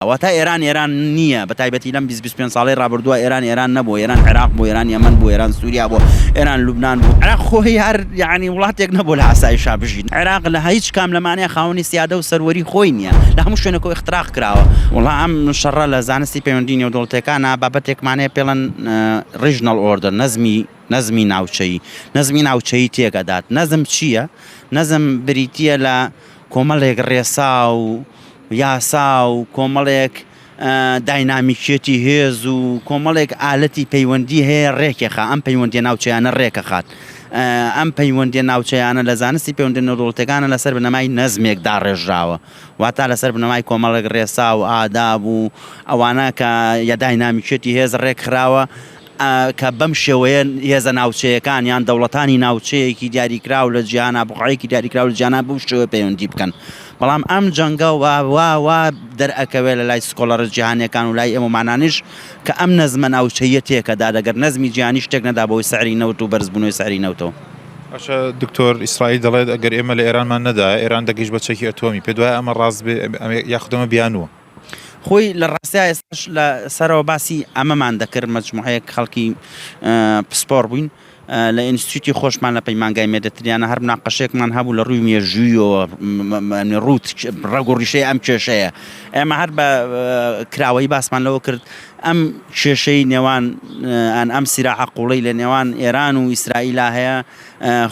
ئەوەتا ئێران ئێران نییە بە تایبەتی لەم بیست بیست پێنج ساڵەی ڕابردووە ئێران ئێران نەبوو ئێران عێراق بوو ئێران یەمەن بوو ئێران سووریا بوو ئێران لوبنان بوو عێراق خۆی هەر یەعنی وڵاتێک نەبوو لە ئاسایشا بژین عێراق لە هیچ کام لەمانەیە خاوەنی سیادە و سەروەری خۆی نییە لە هەموو شوێنێک و اختراق کراوە وڵا ئەم شەڕە لە زانستی پەیوەندی نێودەوڵەتیەکانە بابەتێکمانەیە پێڵەن ڕیژنەڵ ئۆردەر نەزمی نەزمی ناوچەیی نەزمی ناوچەیی تێکەدات نەزم چییە نەزم بریتییە لە کۆمەڵێک ڕێسا و یاسا و کۆمەڵێک داینامیکیەتی هێز و کۆمەڵێک ئالەتی پەیوەندی هەیە ڕێکێخا ئەم پەیوەندی ناوچەیانە ڕێکەخات ئەم پەیوەندی ناوچەیانە لە زانستی پەیوەندی نەوڵەتەکانە لەسەر بنەمای نەزمێک داڕێژراوە واتا لەسەر بنەمای کۆمەڵێک ڕێسا و ئاداب و ئەوانە کە یە داینامیکیەتی هێز ڕێکخراوە کە بەم شێوەیە هێزە ناوچەیەکان یان دەوڵەتانی ناوچەیەکی دیاریکراو لە جیهانا بوقعەیەکی دیاریکراو لە جیهانا بەو شێوەیە پەیوەندی بکەن بەڵام ئەم جەنگە وا وا وا دەرئەکەوێت لە لای سکۆڵەرە جیهانیەکان و لای ئێمەمانانیش کە ئەم نەزمە ناوچەیە تێکەدا دەگەر نەزمی جیهانی شتێک نەدا بەوەی سعری نەوت و بەرزبوونەوەی سعری نەوتەوە. باشە دکتۆر ئیسرائیل دەڵێت ئەگەر ئێمە لە ئێرانمان نەدایە ئێران دەگەیشت بە چەکی ئەتۆمی پێت وایە ئەمە ڕاست بێ یاخود ئەمە بیانووە؟ خۆی لە ڕاستیا ئێستاش لە سەرەوە باسی ئەمەمان دەکرد مەجموعەیەک خەڵکی پسپۆڕ بووین لە ئینستیتی خۆشمان لە پەیمانگای مێدەتریانە هەر مناقەشێکمان هەبوو لە ڕووی مێژوویەوە ڕوت ڕەگ و ڕیشەی ئەم کێشەیە ئێمە هەر بە کراوەی باسمان لەوە کرد ئەم کێشەی نێوان ئەم سیراعە قوڵی لە نێوان ئێران و ئیسرائیلا هەیە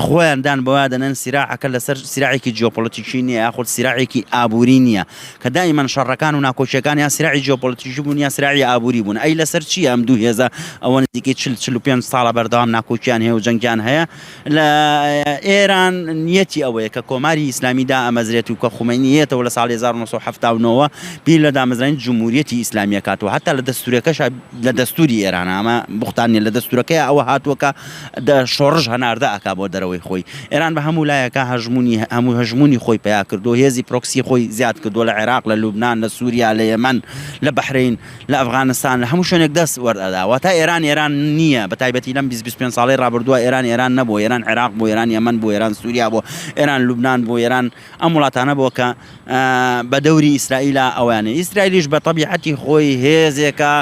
خۆیان دان بەوە دەنێن سیراعەکە لەسەر سیراعێکی جیۆپۆلەتیکی نییە یاخود سیراعێکی ئابووری نییە، کە دایمەن شەڕەکان و ناکۆکییەکان یا سیراعی جیۆپۆلەتیکی بوون یا سیراعی ئابووری بوون، ئەی لەسەر چییە ئەم دوو هێزە ئەوە نزیکەی چل، چل و پێنج ساڵە بەردەوام ناکۆکییان هەیە و جەنگیان هەیە؟ لە ئێران نییەتی ئەوەیە کە کۆماری ئیسلامی دائەمەزرێت و کە خومەینی هەیەتەوە لە ساڵی هەزار و نۆ سەد و حەفتا و نۆ وە بیر لە دامەزرانی جمهوریەتی ئیسلامی ئەکاتەوە، هەتا لە دەستوورەکەشا لە دەستووری ئێرانە ئەمە بوختان نییە لە دەستوورەکەیا ئەوە هاتووە کە دە شۆڕش هەناردە ئەکا بۆ دەرەوەی خۆی. ئێران بە هەموو لایەکا هەژموونی هەموو هەژموونی خۆی پەیا کردووە، هێزی پرۆکسی خۆی زیاد کردووە لە عێراق، لە لوبنان، لە سووریا، لە یەمەن، لە بەحرەین، لە ئەفغانستان، لە هەموو شوێنێک دەست وەر ئەدا. واتە ئێران ئێران نییە، بە تایبەتی لەم بیست بیست پێنج ساڵەی ڕابردووە ئێران ئێران نەبووە، ئێران عێراق بوو، ئێران یەمەن بوو، ئێران سووریا بوو، ئێران لوبنان بوو، ئێران. ئەم وڵاتانە بۆ کە بە دەوری ئیسرائیلا ئەویانە ئیسرائیلیش بە تەبیعەتی خۆی هێزێکە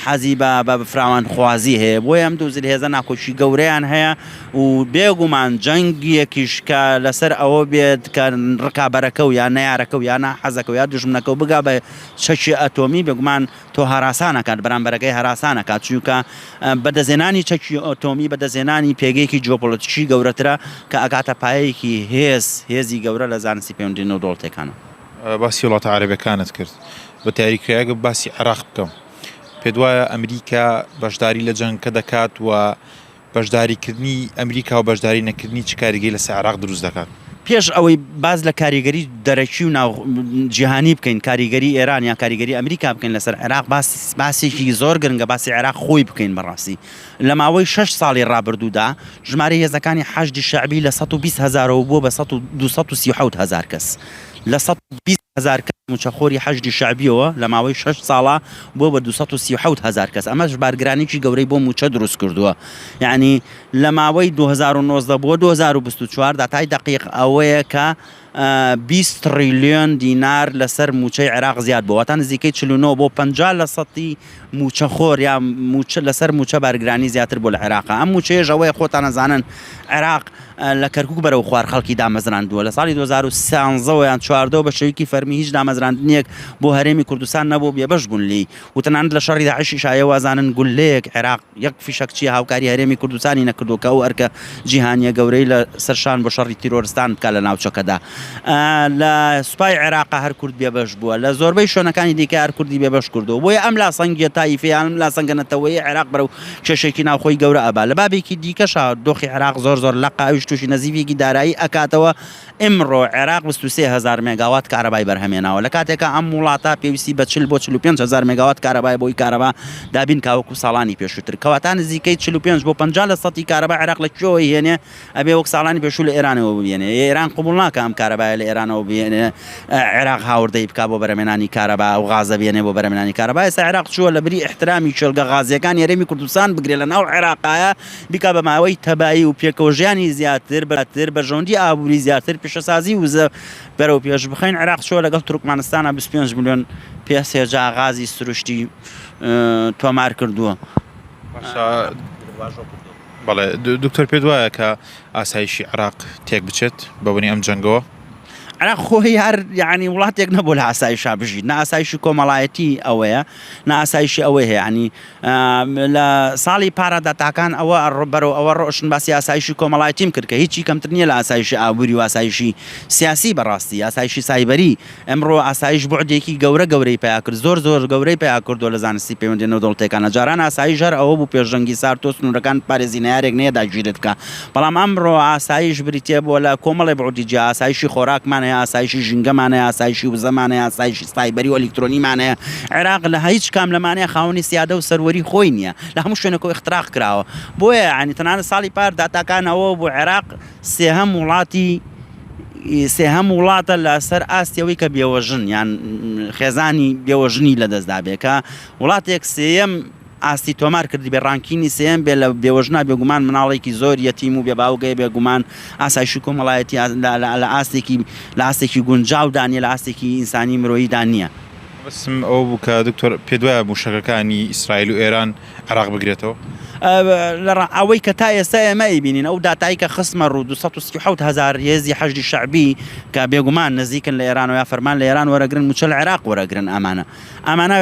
حەزی بە بە فراوان خوازی هەیە بۆ ئەم دوو زل هێزە ناکۆکی گەورەیان هەیە و بێگومان جەنگیەکیش کە لەسەر ئەوە بێت کە ڕکابەرەکە و یا نارەکە و یانا حەزەکە یا دژمنەکە و بگا بە چەکی ئەتۆمی بێگومان تۆ هەراسان ئەکات، بەرامبەرەکەی هەراسان ئەکات، چونکە بەدەستهێنانی چەکی ئەتۆمی بەدەستهێنانی پێگەیەکی جیۆپۆلەتیکی گەورەترە کە ئەگاتە پایەیەکی هێز، هێزی گەورە لە زانستی پەیوەندی نێودەوڵەتیەکانەوە. باسی وڵاتە عەرەبیەکانت کرد، بەدیاریکراوی ئەگەر باسی عێراق بکەم، پێت وایە ئەمریکا بەشداری لە جەنگەکە دەکات و بەشداریکردنی ئەمریکا و بەشداری نەکردنی چ کاریگەری لەسەر عێراق دروست دەکات؟ پێش ئەوەی باس لە کاریگەری دەرەکی و جیهانی بکەین، کاریگەری ئێران یان کاریگەری ئەمریکا بکەین لەسەر عێراق، باسێکی زۆر گرنگە باسی عێراق خۆی بکەین. بەڕاستی لە ماوەی شەش ساڵی ڕابردوودا ژمارەی هێزەکانی حەشدی شەعبی لە سەد و بیست هەزارەوە بووە بە دوو سەد و سی و حەوت هەزار کەس لە سەد و بیست. هەزار کەس مووچەخۆری حەشدی شەعبییەوە لە ماوەی شەش ساڵا بووە بە دوو سەد و سی و حەوت هەزار کەس، ئەمەش بارگرانیی گەورەی بۆ مووچە دروست کردووە. یەعنی لە ماوەی دوو هەزار و نۆزدە بۆ دوو هەزار و بیست و چوار داتای دەقیق ئەوەیە کە بیست تڕیلیۆن دینار لەسەر مووچەی عێراق زیاد بووە، واتە نزیکەی چل و نۆ بۆ پەنجا لەسەدی مووچەخۆر یا مووچە لەسەر مووچە بارگرانی زیاتر بووە لە عێراقا، ئەم مووچەیەش ئەوەیە خۆتان ئەزانن عێراق لە کەرکووک بەرەو خوار خەڵکی دامەزراندووە، لە ساڵی دوو هەزار و سیانزە یان چواردە وە بە شێوەیەکی فەرمی هیچ دامەزراندنێک بۆ هەرێمی کوردستان نەبوو بێبەش گون لێی و تەنانەت لە شەڕی داعشیشا ئێوە ئەزانن گوللەیەک عێراق یەک فیشەک چیە هاوکاری هەرێمی کوردستانی نەکردووە کە ئەو ئەرکە جیهانیە گەورەی لە سەر شان بۆ شەڕی تیرۆرستان بکات لە ناوچەکەدا لە سوپای عێراقا هەر کورد بێبەش بووە لە زۆربەی شوێنەکانی دیکە هەر کوردی بێبەش کردووە بۆیە ئەم لاسەنگیە تایفیە یان ئەم لاسەنگە نەتەوەیە عێراق بەرەو کێشێکی ناوخۆی گەورە ئەبا لە بابێکی دیکەشا دۆخی عێراق زۆر زۆر لەقە ئەویش توشی نەزیفێکی دارایی ئەکاتەوە ئمڕۆ عێراق بیست و سێ هەزار مێگاوات کارەبای بەرهەمهێناوە لە کاتێکا ئەم وڵاتە پێویستی بە چل بۆ چل و پێنج هەزار مێگاوات کارەبایە بۆی کارەبا دابین کا وەکو ساڵانی پێشووتر کەواتا نزیکەی چل و پێنج بۆ پەنجا لە سەتی کارەبا عێراق لە کوێوەی هێنێ ئەبێ وەک ساڵانی پێشوو لە ئێرانەوە ببیێنێ ئێران قبوڵ ناکا ئەم کارەبایە لە ئێرانەوە بێنێ عێراق هاوردەی بکا بۆ بەرەمێنانی کارەبا و غازە بێنێ بۆ بەرەمێنانی کارەبا ئێستا عێراق چووە لە بری ئیحترامی کێڵگە غازیەکانی هەرێمی کوردستان بگرێ لە ناو عێراقایە بیکا بە ماوەی تەبایی و پێکەوە ژیانی زیاتر بەراتر بەرژەوەندی ئابووری زیاتر پیشەسازی وزە بەرەو پێش بخەین عێراق چۆ لەگەڵ تورکمانستانە 25 ملیۆن پێ سێجا غازی سروشتی تۆمار کردووە بەڵێ دکتۆر پێت وایە کە ئاسایشی عراق تێک بچێت بەبنی ئەم جەنگەوە ئەرا خۆی هەر یعنی وڵاتێک نەبوو لە ئاسایشا بژیت ناسایشی کۆمەڵایەتی ئەوەیە ناسایشی ئەوەی هەیەنی لە ساڵی پارەدا تاکان ئەوە بەرەو ئەوە ڕۆشن باسی ئاسایشی کۆمەڵایتیم کرد کە هیچی کەمتر نییە لە ئاسایشی ئابووری و ئاسایشی سیاسی بەڕاستی ئاسایشی سایبەری ئەمڕۆ ئاسایش بوعدێکی گەورە گەورەی پیا کرد زۆر زۆر گەورەی پیا کردووە لە زانستی پەیوەندیدە نێودەوڵەتییەکانە جاران ئاسایش هەر ئەوە بوو پێشەنگی سارتۆ سنوورەکان پارێزی نەیارێک نەیە داگیرت بکا بەڵام ئەمڕۆ ئاسایش بریتیە بۆ لە کۆمەڵێ بوعدی جیا، ئاسایشی خۆراکمان هەیە، ئاسایشی ژینگەمان هەیە، ئاسایشی وزەمان هەیە، ئاسایشی سایبەری و ئەلیکترۆنیمان هەیە، عێراق لە هیچ کام لەمانە خاوەنی سیادە و سەروەری خۆی نیە، لە هەموو شوێنەکەوە ئیختراق کراوە، بۆیە یەعنی تەنانەت ساڵی پار داتاکان ئەوە بوو عێراق سێهەم وڵاتی سێهەم وڵاتە لە سەر ئاستی ئەوەی کە بێوەژن یان خێزانی بێوەژنی لەدەست دابێ کە وڵاتێک سێیەم ئاستی تۆمار کردبێ ڕانکینی سێیەم بێ لە بێوەژنا بێگومان مناڵێکی زۆر یەتیم و بێ باوگەیە بێگومان ئاسایشی کۆمەڵایەتی لە ئاستێکی لە ئاستێکی گونجاو دا نیە لە ئاستێکی ئینسانی مرۆیی دا نیە. مەبەستم ئەوە بوو کە دکتۆر پێت وایە مووشەکەکانی ئیسرائیل و ئێران عێراق بگرێتەوە؟ لەڕا ئەوەی کە تا ئێستا ئێمە ئەیبینین ئەو داتایی کە خستمە ڕوو دوو سەد و سی و حەوت هەزار هێزی حەشدی شەعبی کە بێگومان نزیکن لە ئێرانەوە یا فەرمان لە ئێران وەرەگرن مووچە لە عێراق وەرەگرن ئەمانە ئەمانە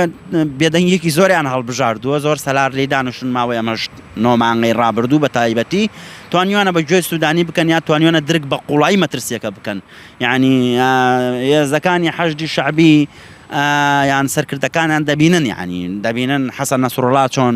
بێدەنگیەکی زۆریان هەڵبژاردووە زۆر سەلار لی دانوشن ماوەی ئەمەش نۆمانگەی ڕابردوو بە تایبەتی توانیوانە بە گوێ سوودانی بکەن یا توانیوانە درک بە قوڵایی مەترسیەکە بکەن یعنی هێزەکانی حەشدی شعبی یان سەرکردەکانیان دەبینن یعنی دەبینن حەسەن نەسرڵا چۆن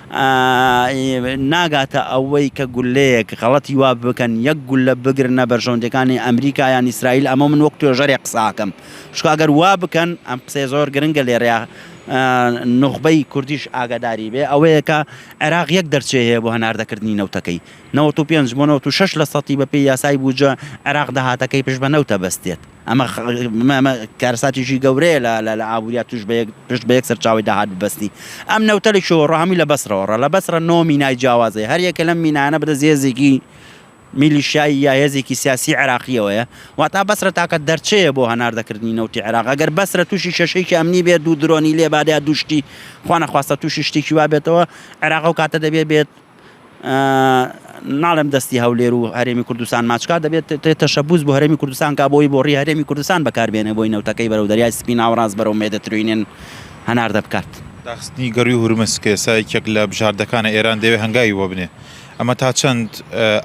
ناگاتە ئەوەی کە گولەیەک غەڵەتی وا بکەن یەک گولە بگرنە بەرژەوەندیەکانی ئەمریکا یان ئیسرائیل ئەمە من وەک توێژەرێک قسە ئەکەم چونکە گەر وا بکەن ئەم قسەی زۆر گرنگە لێرەیا نوخبەی کوردیش ئاگاداری بێ ئەوەیە کە عێراق یەک دەرچەی هەیە بۆ هەناردەکردنی نەوتەکەی 95 بۆ 96 لە سەتی بەپێی یاسای بودجە عێراق داهاتەکەی پشت بە نەوتە بەستێت ئەمە کارەساتێکی گەورەیە لە ئابووریا توش پشت بە یەک سەرچاوی داهات ببەستی. ئەم نەوتە لە کوێوە ڕا؟ هەمووی لە بەسرەوە ڕا. لە بەسرە نۆ مینای جیاواز هەیە، هەر یەکە لەم مینایانە بەدەست هێزێکی میلیشیایی یا هێزێکی سیاسیی عێراقییەوەیە. واتە بەسرە تاکە دەرچەیە بۆ هەناردەکردنی نەوتی عێراق. ئەگەر بەسرە تووشی کێشەیەکی ئەمنی بێت، دوو درۆنی لێ بات یا دوو شتی خوانەخواستە تووشی شتێکی وا بێتەوە، عێراق ئەو کاتە دەبێ بێت ناڵێم دەستی هەولێر و هەرێمی کوردستان ماچکا دەبێت تەشەبوس بۆ هەرێمی کوردستان کا بۆی بۆ ڕی هەرێمی کوردستان بەکاربێنێ بۆی نەوتەکەی بەرەو دەریای سپی ناوەڕاست بەرەو مێدتروینێن هەناردە بکات. داخستنی گەرووی هورمز کە ئێستا یەکێک لە بژاردەکانە ئێران دەیەوێت هەنگاوی بۆ بنێ ئەمە تا چەند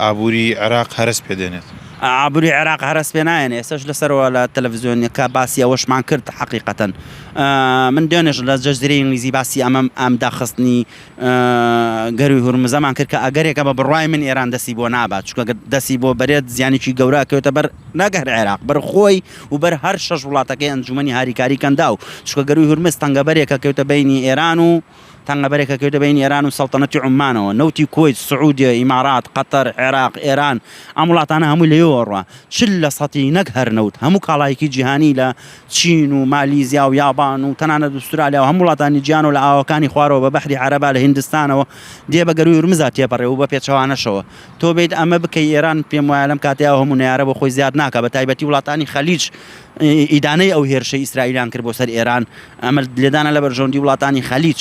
ئابووری عێراق هەرەس پێ دێنێت؟ ئابووری عێراق هەرەس پێ نایەن ئێسش لەسەرەوە لە تەلەڤزیۆنیەکە باسی ئەوەشمان کرد حەقیقەتەن من دوێنێش لە جەزیرەی ئینگلیزی باسی ئەمەم ئەم داخستنی گەرووی هورمزەمان کرد کە ئەگەرێکە بە بڕوای من ئێران دەستی بۆ نابات چونکە گەر دەستی بۆ بەرێت زیانێکی گەورە ئەکەوێتە بەر نەک هەر عێراق بەر خۆی و بەر هەر شەش وڵاتەکەی ئەنجوومەنی هاریکاریی کەنداو چونکە گەرووی هورمز تەنگەبەرێکە کەوتە بەینی ئێران و تەنگەبەرێکە کەوتە بەینی ئێران و سەڵتەنەتی عوممانەوە نەوتی کوەیت سعوودیە ئیمارات قەتەر عێراق ئێران ئەم وڵاتانە هەمووی لەوێوە ڕوا چل لە سەتی نەک هەر نەوت هەموو کاڵایەکی جیهانی لە چین و مالیزیا و یابان و تەنانەت ئوسترالیا و هەموو وڵاتانی جیهان و لە ئاوەکانی خوارەوە بە بەحری عەرەبا لە هیندستانەوە دێ بە گەرووی هورمزا تێپەڕێ و بە پێچەوانەشەوە تۆ بێیت ئەمە بکەی ئێران پێم وایە لەم کاتەیا ئەو هەموو نەیارە بۆ خۆی زیاد ناکا بە تایبەتی وڵاتانی خەلیج ئیدانەی ئەو هێرشەی ئیسرائیلیان کرد بۆ سەر ئێران ئەمە لێدانە لە بەرژەوەندی وڵاتانی خەلیج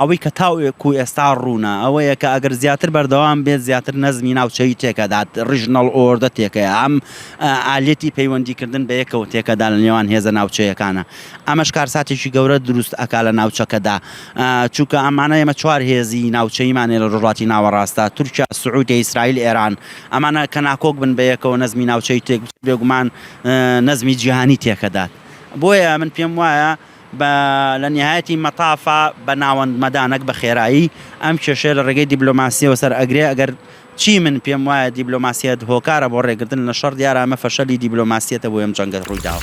ئەوەی کە تاوەکو ئێستا ڕوونە ئەوەیە کە ئەگەر زیاتر بەردەوام بێت زیاتر نەزمی ناوچەیی تێکەدات، ڕیژنەڵ ئۆردە تێکەیە، ئەم ئالیەتی پەیوەندیکردن بە یەکەوە تێکەدا لە نێوان هێزە ناوچەیەکانە، ئەمەش کارساتێکی گەورە دروست ئەکا لە ناوچەکەدا، چونکە ئەمانە ئێمە چوار هێزی ناوچەییمان هەیە لە ڕۆژهەڵاتی ناوەڕاستدا، تورکیا، سعودیە، ئیسرائیل، ئێران، ئەمانە کە ناکۆک بن بە یەکەوە نەزمی ناوچەیی تێکبچێت بێگومان نەزمی جیهانی تێکەدات، بۆیە من پێم وایە. بە لە نیهایەتی مەتافا بە ناوەند مەدا نەک بە خێرایی ئەم کێشەیە لە ڕێگەی دیبلۆماسیەوە سەر ئەگرێ ئەگەر چی من پێم وایە دیبلۆماسیەت هۆکارە بۆ ڕێگرتن لە شەڕ دیارە ئەمە فەشەلی دیبلۆماسیەتە بۆی ئەم جەنگە ڕووی داوە.